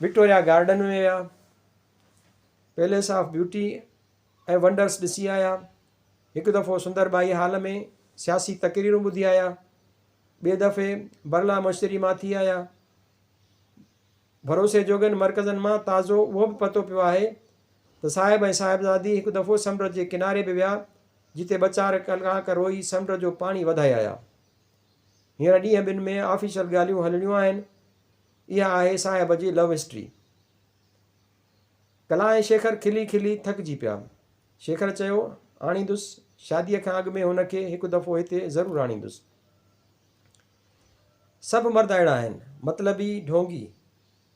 وڪٽوريا گارڊن ۾ ويا. پيليس آف بيوٽي ۽ ونڊرس ڏسي آيا. هڪ دفعو سندر ٻائي هال ۾ سياسي تقريرون ٻڌي آيا. ٻئي دفعي برلا مشتري مان ٿي آيا. ڀروسي جوڳن مرڪزن مان تازو اهو به پتو پيو آهي ته صاحب ۽ صاحبزادي هڪ دفعو سمنڊ جي ڪناري به ويا جتي ٻه چار ڪلاڪ روئي سمنڊ جو پاڻي وڌائي آيا. هينئر ڏينهن ٻن ۾ آفيشل ڳالهيون هلڻيون آهن. اها آهي صاحب جي لو هسٽري. ڪلا ۽ شيکر کلي کلي ٿڪجي پيا. شيکر چيو، آڻيندس، شاديء کان اڳ ۾ هن کي هڪ دفعو هتي ضرور آڻيندس. سڀ مرد اهڙا آهن. مطلبي ڍونگي.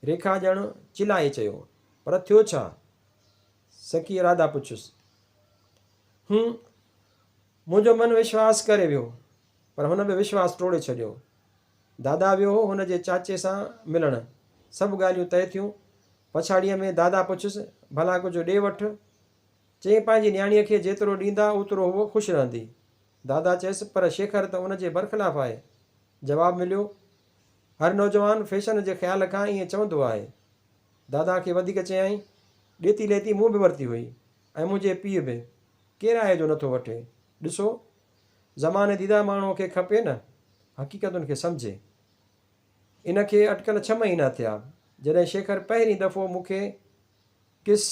ريکا ڄڻ چلائي چيو، پر ٿيو ڇا؟ سکي راڌا پڇيس. هون. منهنجو من وشواس ڪري ويو، پر هن به وشواس ٽوڙي ڇڏيو. دادا ويو هو هن جي چاچي سان ملڻ. سڀ ڳالهيون طئي ٿيون. پڇاڙيء ۾ دادا پڇيس، ڀلا ڪجهه ڏي وٺ. چيائين پنهنجي نياڻيء کي جيترو ڏيندا اوترو هوء خوش رهندي. دادا چيس پر شيکر ته ان جي برخلاف آهي. جواب مليو، هر نوجوان فيشن جي خيال کان ائين چوندو آهي. دادا کي وڌيڪ چيائين، ڏيتي ليتي مون به ورتي هئي ۽ منهنجي پيء به. ڪير آهي جو نٿو وٺي. ڏسو! زمانه ديده ماڻهوء کي کپي نه حقيقتن کي سمجهي. ان کي اٽڪل ڇهه مهينا ٿيا جڏهن شيکر پهرين دفعو مون کي ڪس.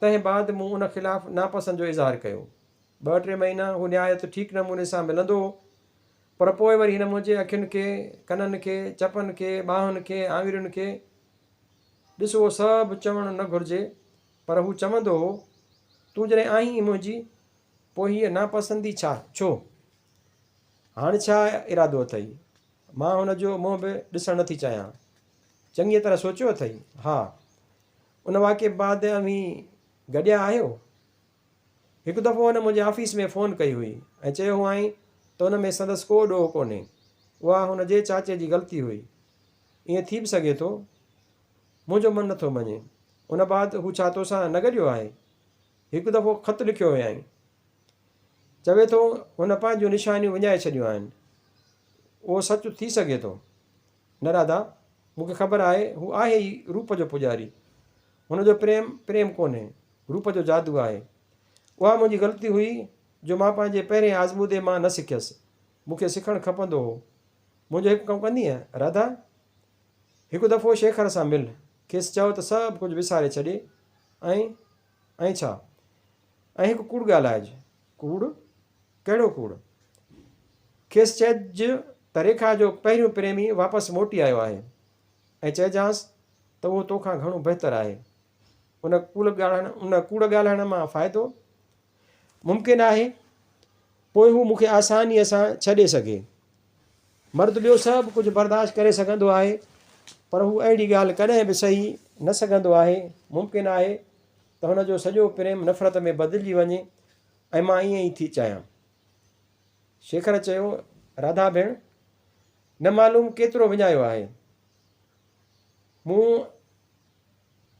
تنهن بعد مون ان خلاف ناپسند جو اظهار ڪيو. ٻه ٽي مهينا هو نهايت ٺيڪ نموني سان ملندو هو، پر پوء وري هن منهنجي اکين کي، ڪنن کي، چپن کي، ٻانهن کي، آڱرين کي، ڏس اهو سڀ چوڻ نه گهرجي، پر هو چوندو هو، تون جڏهن آهين ئي منهنجي، پوء هيء ناپسندي ڇا؟ ڇو؟ هاڻ ڇا ارادو اٿئي؟ مان هن جو منهن به ڏسڻ نٿي چاهيان. چڱيء طرح سوچيو اٿئي؟ ها. ان واقعي بعد اوهين گڏيا آهيو؟ هڪ دفعو هن منهنجي آفيس ۾ فون ڪئي هئي ۽ چيو هئائين ته ان ۾ سندس ڪو ڏوهه ڪونهي. اها هن جي چاچي جي غلطي هئي. ائين ٿي به سگهي ٿو. منهنجو من نٿو مڃي. ان بعد هو ڇا تو سان نه گڏيو آهي؟ هڪ دفعو خط لکيو هيائين. چوي ٿو هن پنهنجون نشانيون وڃائي ڇڏيون آهن. اهو سچ ٿي سگهي ٿو. نه راڌا، مون کي خبر آهي، هو آهي ئي روپ جو پوڄاري. هن جو پريم، پريم ڪونهي، روپ جو جادو آهي. اها منهنجي غلطي هئي جو مان پنهنجي پهرين آزمودي مان نه سکيس. مون کي سکڻ کپندو هو. منهنجو هڪ ڪم ڪندينء راڌا؟ هڪ دفعو شيکر سان مل، کيس چئو ته سڀ ڪجهه وساري ڇڏي ۽ ائين ڇا؟ ۽ هڪ ڪوڙ ڳالهائج. ڪوڙ؟ ڪهڙو ڪوڙ؟ کيس چئج ته ريکا جو پهريون پريمي واپس موٽي آيو آهي ۽ چئجانس ته اهو تو کان گهڻو بهتر آهي. ان ڪوڙ ڳالهائڻ مان فائدو؟ ممڪن آهي پوء هو مون کي آسانيء سان ڇڏي سگهي. مرد ٻيو سڀ ڪجهه برداشت ڪري سگهندو آهي، پر هو اهڙي ڳالهه ڪڏهن به سهي نه سگهندو آهي. ممڪن آهي ته هن جو سڄو پريم نفرت ۾ بدلجي وڃي ۽ مان ائين ئي ٿي چاهيان. شيکر چيو، راڌا ڀيڻ، نه معلوم ڪيترو وڃايو آهي. مون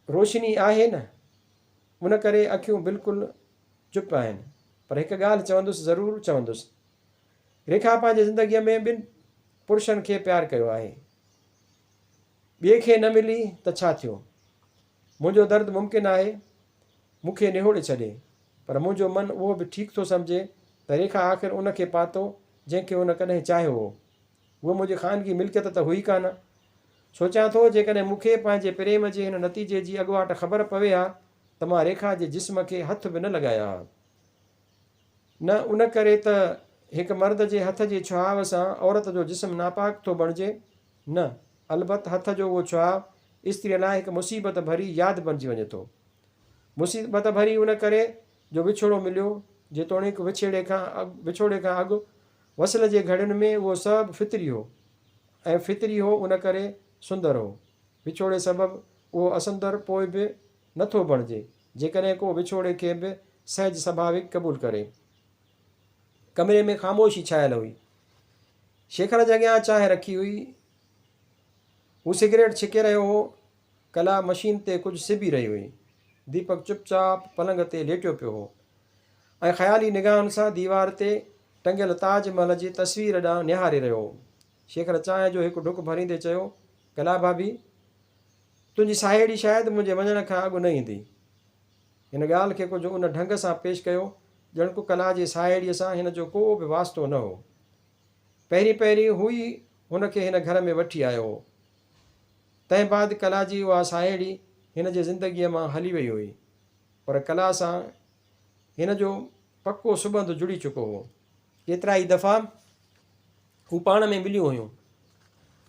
روشني آهي نه، ان ڪري اکيون بلڪل چپ آهن، پر هڪ ڳالهه چوندس ضرور چوندس، ريکا پنهنجي زندگيء ۾ ٻن پرشن کي پيار ڪيو آهي. ٻئي کي نه ملي ته ڇا ٿيو؟ منهنجو درد ممڪن آهي مون کي نهوڙي ڇڏي، پر منهنجو من اهو به ٺيڪ ٿو سمجهي ته ريکا آخر ان کي پاتو جنهن کي هن ڪڏهن چاهيو هو. هوء منهنجي خانگي ملڪيت ته هئي ڪانه. سوچيان ٿو جيڪڏهن مون کي پنهنجي پريم جي هن نتيجي جي اڳواٽ خبر پوي ها ته مان ريکا جي جسم کي هٿ به نه لڳايان ها. نه ان ڪري ته هڪ مرد جي هٿ جي ڇهاء سان عورت جو جسم ناپاڪ ٿو بڻجي، نه، البت هٿ جو اهو ڇهاء استريء لاء هڪ مصيبت ڀري ياد بڻجي وڃي ٿو. مصيبت ڀري ان ڪري جو وڇوڙو مليو، جيتوڻيڪ وڇيڙي کان وڇوڙي کان اڳ وصل جي گهڙين ۾ اهو سبب فطري هو ۽ فطري هو ان ڪري سندر هو، وڇوڙي سبب اهو اسندر پوء به نه ٿو بڻجي، جيڪڏهن ڪو وڇوڙي کي به سهج سڀاويڪ قبول ڪري. ڪمري ۾ خاموشي ڇانيل هئي. شيخر جي اڳيان چانهه رکي هئي. هو سگريٽ ڇڪي رهيو هو. ڪلا مشين تي ڪجهه سبي رهي هئي. ديپڪ چپ چاپ پلنگ تي ليٽيو پيو هو ۽ خيالي نگاهن سان ديوار تي ٽنگيل تاج محل جي تصوير ڏانهن نهاري رهيو هو. شيخ نه چانهه جو هڪ ڍڪ ڀريندي چيو، ڪلا ڀاڀي! تنهنجي ساهيڙي شايد منهنجي وڃڻ کان اڳ نه ايندي. هن ڳالهه کي ڪجهه ان ڍنگ سان پيش ڪيو ڄڻڪ ڪلا جي ساهيڙيء سان هن جو ڪو به واسطو نه هو. پهرين پهرين هو ئي هن کي هن گهر ۾ وٺي آيو هو. تنهن بعد ڪلا جي اها ساهيڙي هن جي زندگيء مان هلي وئي هئي. پر ڪلا سان هن جو پڪو سٻنڌ جڙي چڪو هو. ڪيترائي دفعا هو پاڻ ۾ مليون هيون،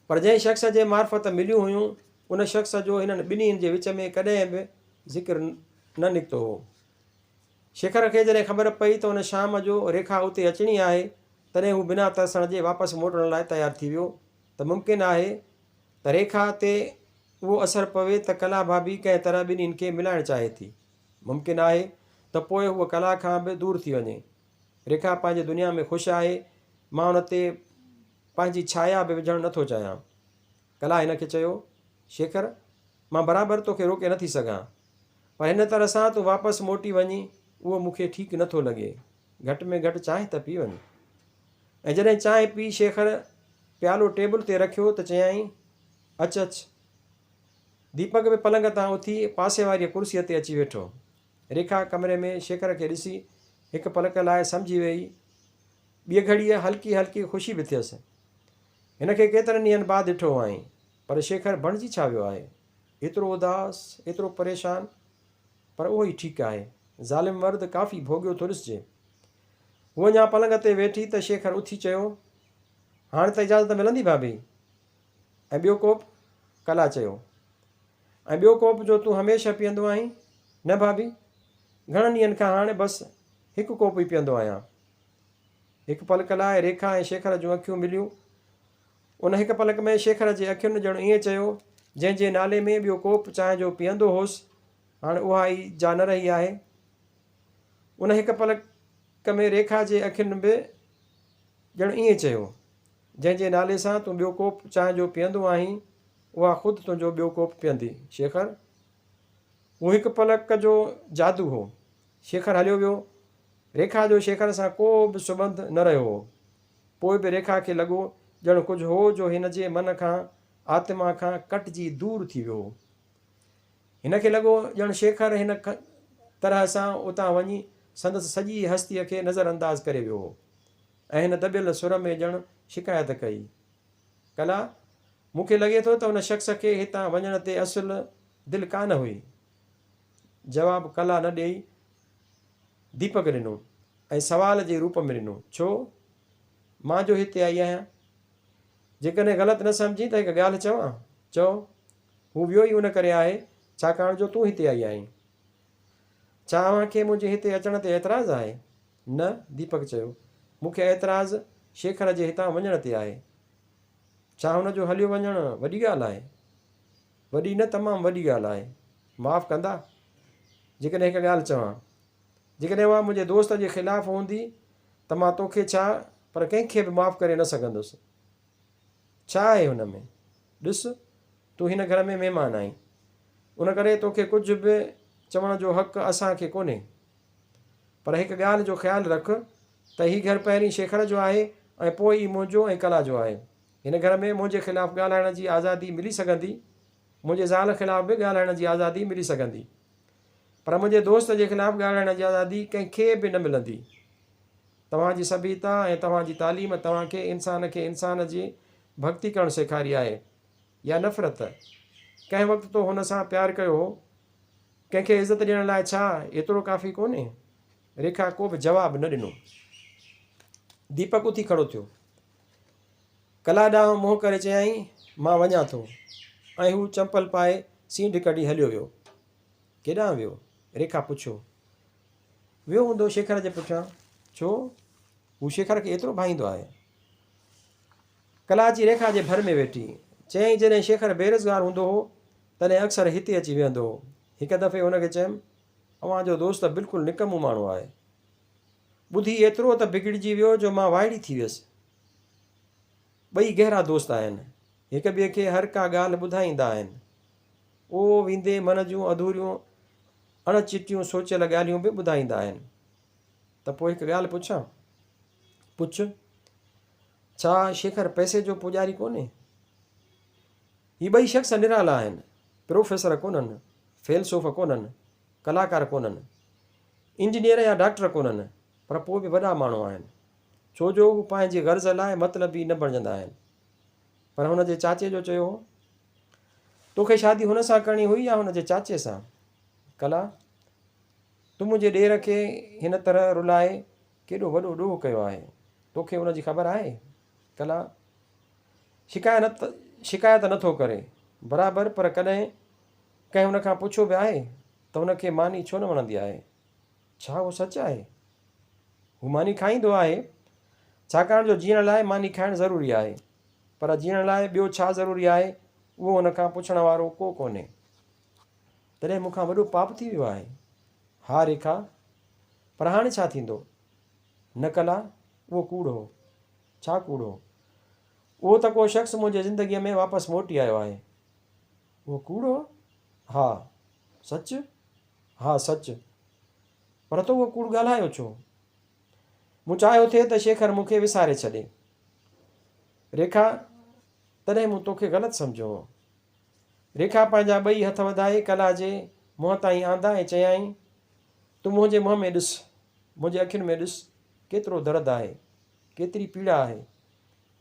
پر جنهن شخص جي معرفت مليون هيون، ان شخص جو هنن ٻنهين جي وچ ۾ ڪڏهن به ذڪر نه نڪتو هو. شيکر کي جڏهن خبر پئي ته ان شام جو ريکا اتي اچڻي آهي، تڏهن هو بنا ترسڻ جي واپس موٽڻ لاء تيار ٿي ويو ته ممڪن آهي ته ريکا تي اهو اثر پوي ته ڪلا ڀاڀي ڪنهن طرح ٻنهين کي ملائڻ چاهي ٿي. ممڪن آهي ته پوء هوء ڪلا کان به دور ٿي وڃي. ريکا پنهنجي دنيا ۾ خوش آهي، مان ان تي پنهنجي ڇايا به وجهڻ نه ٿو چاهيان. ڪلا هن کي چيو، شيکر، مان برابر تو کي روڪي نه ٿي سگهان، پر هن طرح سان تون واپس موٽي وڃين، اهو مون کي ٺيڪ نه ٿو لڳي. گهٽ ۾ گهٽ چانهه ته پي وڃ. ۽ جڏهن چانهه پي شيکر پيالو ٽيبل تي رکيو ته چيائين، اچ اچ. ديپڪ به پلنگ تان اٿي پاسي واريء ڪرسيء تي اچي ويٺو. ريکا ڪمري ۾ شيکر کي ڏسي هڪ پلڪ لاء سمجهي ويئي. ٻيء گهڙيء هلڪي هلڪي خوشي به ٿيس. هن کي ڪيترن ڏينهن بعد ڏٺو هئائين. پر شيکر بڻجي ڇا ويو آهي؟ ايترو اداس، ايترو پريشان؟ پر اهو ئي ٺيڪ آهي. ظالم مرد ڪافي ڀوڳيو ٿو ڏسجي. هوء اڃا پلنگ تي ويٺي ته شيکر اٿي چيو، هاڻ ته اجازت ملندي ڀاڀي؟ ۽ ٻيو ڪوپ؟ ڪلا چيو، ۽ ٻيو ڪوپ جو تون هميشه پيئندو آهين؟ نه ڀاڀي، گهڻن ڏينهن کان هاڻي بس هڪ ڪوپ ئي پيئندو آهيان. هڪ پلڪ لاء ريکا ۽ شيکر جون اکيون مليون. ان هڪ پلڪ ۾ شيکر جي اکين ڄڻ ائين چيو، جنهن جي نالي ۾ ٻيو ڪوپ چانهه جو پيئندو هوس، هاڻي اها ئي جا نه رهي آهي. ان هڪ پلڪ ۾ ريکا جي اکين به ڄڻ ائين چيو. جنهن جي نالي سان تون ٻيو ڪوپ چانهه جو پيئندو آهين، اها خود تنهنجو ٻيو ڪوپ پيئندي. شيخر! هو هڪ پلڪ جو جادو هو. شيخر هليو ويو. ريکا جو شيخر سان ڪو به سٻنڌ نه رهيو هو. پوء به ريکا کي لڳو ڄڻ ڪجهه هو جو هن جي من کان، آتما کان ڪٽجي دور ٿي ويو هو. هن کي لڳو ڄڻ شيخر هن طرح سان اتان وڃي سندس سڄي هستيء کي نظر انداز ڪري ويو هو. ۽ هن دٻيل سر ۾ ڄڻ شڪايت ڪئي، ڪلا، مون کي لڳي ٿو ته ان شخص کي هتان وڃڻ تي اصل دل ڪا نه هئي. جواب ڪلا نه ڏيئي ديپڪ ڏنو ۽ سوال جي روپ ۾ ڏنو، ڇو؟ مان جو هتي آئي آهيان؟ جيڪڏهن غلط نه سمجهين ته هڪ ڳالهه چوان؟ چؤ. هو ويو ئي ان ڪري آهي ڇاڪاڻ جو تون هتي آئي آهين. ڇا اوهان کي منهنجي هتي اچڻ تي اعتراض آهي؟ نه، ديپڪ چيو. مون کي اعتراض شيکر جي هتان وڃڻ تي آهي. ڇا هن جو هليو وڃڻ وڏي ڳالهه آهي؟ وڏي نه تمام وڏي ڳالهه آهي. معاف ڪندا جيڪڏهن هڪ ڳالهه چوان؟ جيڪڏهن اها منهنجي دوست جي خلاف هوندي ته مان تو کي ڇا پر ڪنهن کي به معاف ڪري نه سگهندس. ڇا آهي هن ۾؟ ڏس تون هن گهر ۾ مهمان آهين. ان ڪري تو کي ڪجهه به چوڻ جو حق اسان کي ڪونهي. پر هڪ ڳالهه جو خيال رک ته هي گهر پهرين شيخڙ جو آهي ۽ پوء ئي منهنجو ۽ ڪلا جو آهي. هن گهر ۾ منهنجي خلاف ڳالهائڻ جي آزادي ملي سگهندي، منهنجي زال خلاف به ڳالهائڻ جي آزادي ملي سگهندي. پر منهنجي دوست جي خلاف ڳالهائڻ جي آزادي ڪنهن کي به نه ملندي. توهان جي سڀيتا ۽ توهان جي تعليم توهان کي انسان کي انسان جي ڀڳتي ڪرڻ سيکاري آهي يا نفرت؟ ڪنهن وقت تو هن سان پيار ڪيو هو؟ ڪنهن کي عزت ڏيڻ لاء ڇا ايترو ڪافي ڪونهي؟ ريکا ڪو به جواب نه ڏنو. ديپڪ اٿي کڙو ٿيو. ڪلا ڏانهن منهن ڪري چيائين، مان وڃان ٿو. ۽ هو چمپل پائي سينڍ ڪڍي هليو ويو. ڪيڏانهن ويو؟ ريکا پڇيو. ويو هوندو شيکر جي پٺيان. ڇو؟ هو شيکر کي ايترو ڀائيندو آهي. ڪلا جي ريکا جي ڀر ۾ ويٺي. چيائين جڏهن شيخر بيروزگار هوندو هو، تڏهن اڪثر هتي اچي ويهندو هو. هڪ دفعي هن کي چيم، اوهان جو دوست ته بلڪل نڪمو ماڻهو آهي. ٻڌي ايترو ته بگڙجي ويو جو مان وائڙي ٿي ويس. ٻئي گهرا دوست آهن. هڪ ٻئي کي هر ڪا ڳالهه ٻڌائيندا آهن. او ويندي من جون اڌوريون اڻ چٽيون سوچيل ڳالهيون به ٻڌائيندا آهن. ته پوء هڪ ڳالهه پڇان؟ پڇ. ڇا شيکر پئسي جو پوڄاري ڪونهي؟ هي ٻئي شخص نرالا آهن. پروفيسر ڪونهن، فيلسوف ڪونهن، ڪلاڪار ڪونهن، انجنيئر يا ڊاڪٽر ڪونهن، پر پوء به وڏا ماڻهو آهن. ڇو جو هو پنهنجي غرض لاء مطلبي نه بڻجندا آهن. پر هن جي چاچي جو چيو هو، تو کي شادي هن سان ڪرڻي هئي يا هن جي چاچي سان؟ ڪلا، تو منهنجي ڏير کي هن طرح رلائي ڪيڏو وڏو ڏوهه ڪيو آهي، توکي ان جي خبر آهي؟ ڪلا، شڪايت شڪايت نه ٿو ڪري، برابر، پر ڪڏهن ڪنهن هن کان پڇيو به آهي ته هن کي ماني ڇو نه وڻندي آهي؟ ڇا اهو سچ آهي؟ هو ماني کائيندو آهي، ڇاڪاڻ جو جيئڻ لاء ماني کائڻ ضروري آهي، پر جيئڻ لاء ٻيو ڇا ضروري آهي، اهو هن کان پڇڻ وارو ڪو ڪونهي. تڏهن مون کان وڏو پاپ ٿي ويو آهي. ها ريکا، پر هاڻي ڇا ٿيندو؟ نه ڪلا، اهو ڪوڙ هو. ڇا ڪوڙ هو؟ اهو ته ڪو شخص منهنجي زندگيء ۾ واپس موٽي آيو آهي. اهو ڪوڙ هو؟ ها. سچ؟ ها سچ. پر تو اهو ڪوڙ ڳالهايو ڇو؟ مون چاهيو ٿي ته شيکر مون کي وساري ڇڏي. ريکا، تڏهن مون توکي غلط سمجهيو هو. ريکا پنهنجا ٻئي هٿ وڌائي ڪلا جي منهن تائين آندا ۽ چيائين، تون منهنجي منهن ۾ ڏس، منهنجي اکين ۾ ڏس، ڪيترو درد آهي، ڪيتري پيڙا آهي.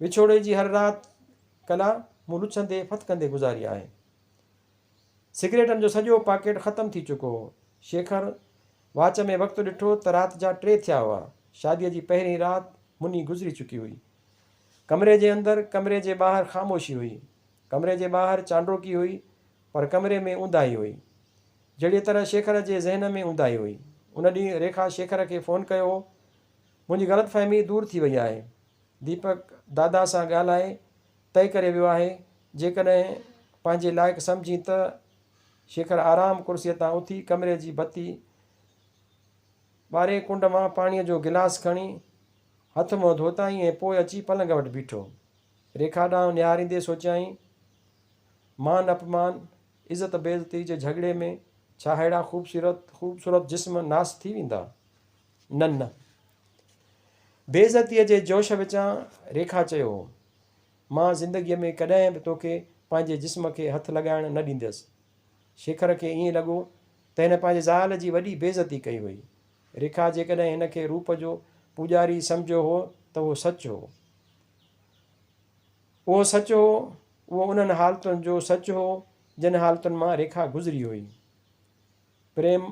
وڇوڙي جي هر رات ڪلا مون لڇندي ڦٿڪندي گذاري آهي. سگريٽن جو سڄو پاڪيٽ ختم ٿي چڪو هو. شيکر واچ ۾ وقت ڏٺو ته رات جا ٽي ٿيا هئا. شاديء جي پهرين رات مني گذري چڪي هئي. ڪمري جي اندر، ڪمري جي ٻاهر خاموشي هئي. ڪمري جي ٻاهر چانڊوڪي هئي، پر ڪمري ۾ اونداهي هئي. جهڙيء طرح شيکر جي ذهن ۾ اونداهي هئي. ان ڏينهن ريکا شيکر کي فون ڪيو هو. منهنجي غلط فهمي دور ٿي وئي آهي. ديپڪ دادا سان ڳالهائي طئي ڪري ويو آهي. جيڪڏهن پنهنجي لائق سمجهين ته. شيکر آرام ڪرسيء تان اٿي ڪمري جي بتي ٻاري ڪنڊ مان پاڻيء جو گلاس کڻي هٿ منهن ڌوتائين ۽ پوء اچي پلنگ وٽ بيٺو. ريکا ڏانهن نهاريندي سوچيائين، مان اپمان، عزت بيعزتي جي جهڳڙي ۾ ڇا ههڙا خوبصورت خوبصورت جسم ناس ٿي ويندا؟ نه نه. بيعزتيء جي جوش وچان ريکا چيو هو، مان زندگيء ۾ ڪڏهن به توکي پنهنجي جسم کي هٿ لڳائڻ نه ڏينديس. شيکر کي ائين لڳو ته هن پنهنجي زال جي وڏي بيعزتي ڪئي هئي. ريکا جيڪڏهن هن کي روپ جو پوڄاري سمجهيو هو ته اهو سچ هو. اهو سچ هو، اهو انهن حالتن جو سچ هو، جن حالتن مان ريکا گذري هئي. پريم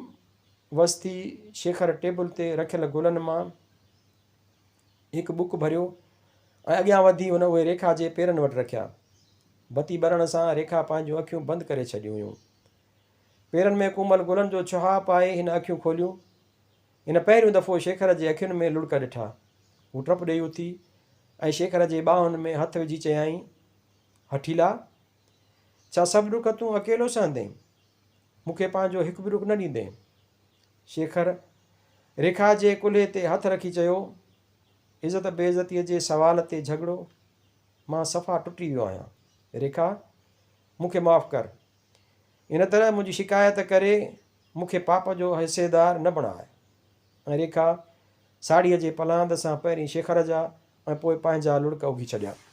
وستي شيکر ٽيبل تي رکيل گلن مان هڪ بڪ ڀريو ۽ اڳيان وڌي هن اهي ريکا جي پيرن وٽ رکيا. بتي ٻرڻ سان ريکا پنهنجون اکيون بند ڪري ڇڏيون هيون. پيرن ۾ ڪومل گلن جو ڇهاء پائي هن اکيون کوليون. هن پهريون دفعو شيکر جي اکين ۾ لڙڪ ڏٺا. هو ٽپ ڏيئي اٿي ۽ شيکر جي ٻانهن ۾ هٿ وجهي چيائين، هٺيلا! ڇا سڀ ڏک تون اڪيلو سهندين؟ مون کي پنهنجو هڪ به ڏک نه ڏيندين؟ شيکر ريکا جي ڪلهي تي هٿ رکي چيو، عزت بي عزتيء جي سوال تي جهڳڙو؟ مان صفا ٽٽي ويو آهيان. ريکا! مون کي معاف ڪر. ان طرح منهنجي شڪايت ڪري مون کي پاپ جو حصيدار نه بڻاء. ۽ ريکا ساڙهيء جي پلاند سان پهرين شيخر جا ۽ پوء پنهنجا لڙڪ اگهي ڇڏيا.